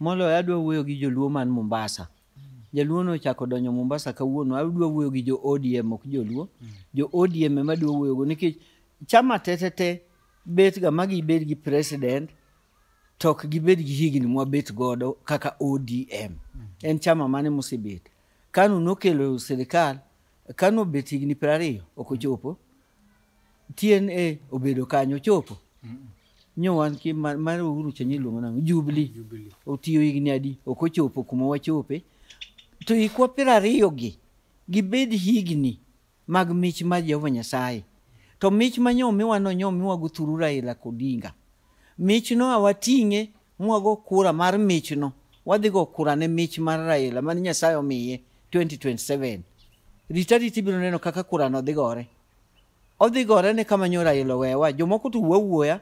Moloyo adwa wuoyo gi joluo man Mombasa. Jaluo no ochako donjo Mombasa kawuono, adwa wuoyo gi jo ODM ok joluo. Jo ODM ema adwa wuoyogo nikech chama tetete betga ma gibed gi president to ok gibed gi higni mwabet godo kaka ODM. En chama mane mosebet? Kanu nokelo sirikal, Kanu obet higni piero ariyo ok ochopo. TNA obedo kanyo ochopo nyo wan ki ma- mar Uhuru Chenyo iluongo nang'o Jubilee Jubilee. otiyo higni adi ok ochopo kuma wachope to ikwa piero ariyo gi gibed higni mag mich mar Jehova Nyasaye to mich ma nyomiwa no nyomiwa guthuru Raila Kodinga mich no awating'e mwago kura mar mich no wadhi go kura ne mich mar Raila mane Nyasaye omiye 2027 rita rita ibiro neno kaka kura no dhi gore Odhi gore ne kama nyora ilo wewa. Jomoko to wuo wuoya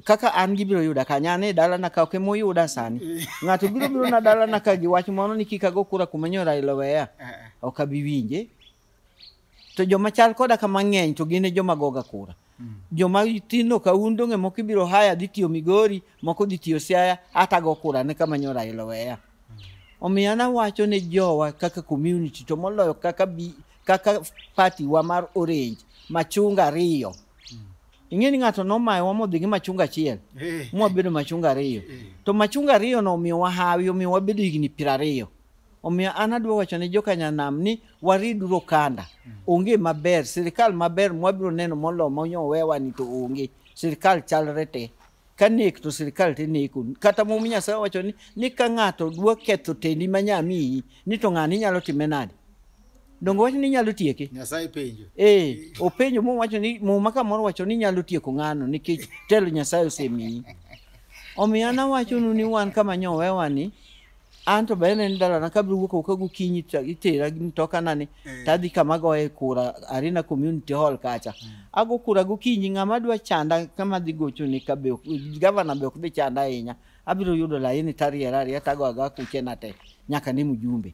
kaka an gibiro yuda ka nyane e dalana ka ok emoyuda sani. Ng'ato biro biro na dalana ka gi wach moro ni kik ago kura kuma nyora ilo weya. Ok abi winje. To joma chal koda ka mang'eny to gin e joma goga kura. Joma tino ka un donge moko ibiro haya dhi tiyo Migori, moko dhi tiyo Siaya, hata go kura ne kama nyora ilo weya. Omiyo an awacho ne jowa kaka community to moloyo kaka bi, kaka party wa mar orange machunga ariyo. Ing'e ni ng'ato nomayowa modhi gi machunga achiel Eh. mwabedo machunga ariyo to machunga ariyo no omiyo wahawi omiyo wabedo higni piero ariyo omiyo an adwa wacho ne jokanyanam ni wariduru okanda onge maber sirikal maber mwabiro neno molo monyowewani to onge sirikal chalre te ka nek to sirikal to ineko kata mum nyasaye owacho ni ni ka ng'ato dwa ketho tendi ma nya miyi ni to ng'ani inyalo time nade donge wacho ni inyalo tieke nyasaye penjo ee openjo mum wacho ni muma kamoro wacho ni inyalo tieko ng'ano nikech telo nyasaye osemiyi omiyo an awachonu ni wan kama nyowewani an to bende en dalana kabiro wuok oko gokinyi to itera gi mtokanani Eh. tadhi kama goye kura arena community hall kacha ago kura gokinyi ng'ama dwa chanda kama dhi gochone ka be ok- gavana be ok dhi chanda ahinya abiro yudo laini tariera ariya tago aga kuchena te nyaka ne mjumbe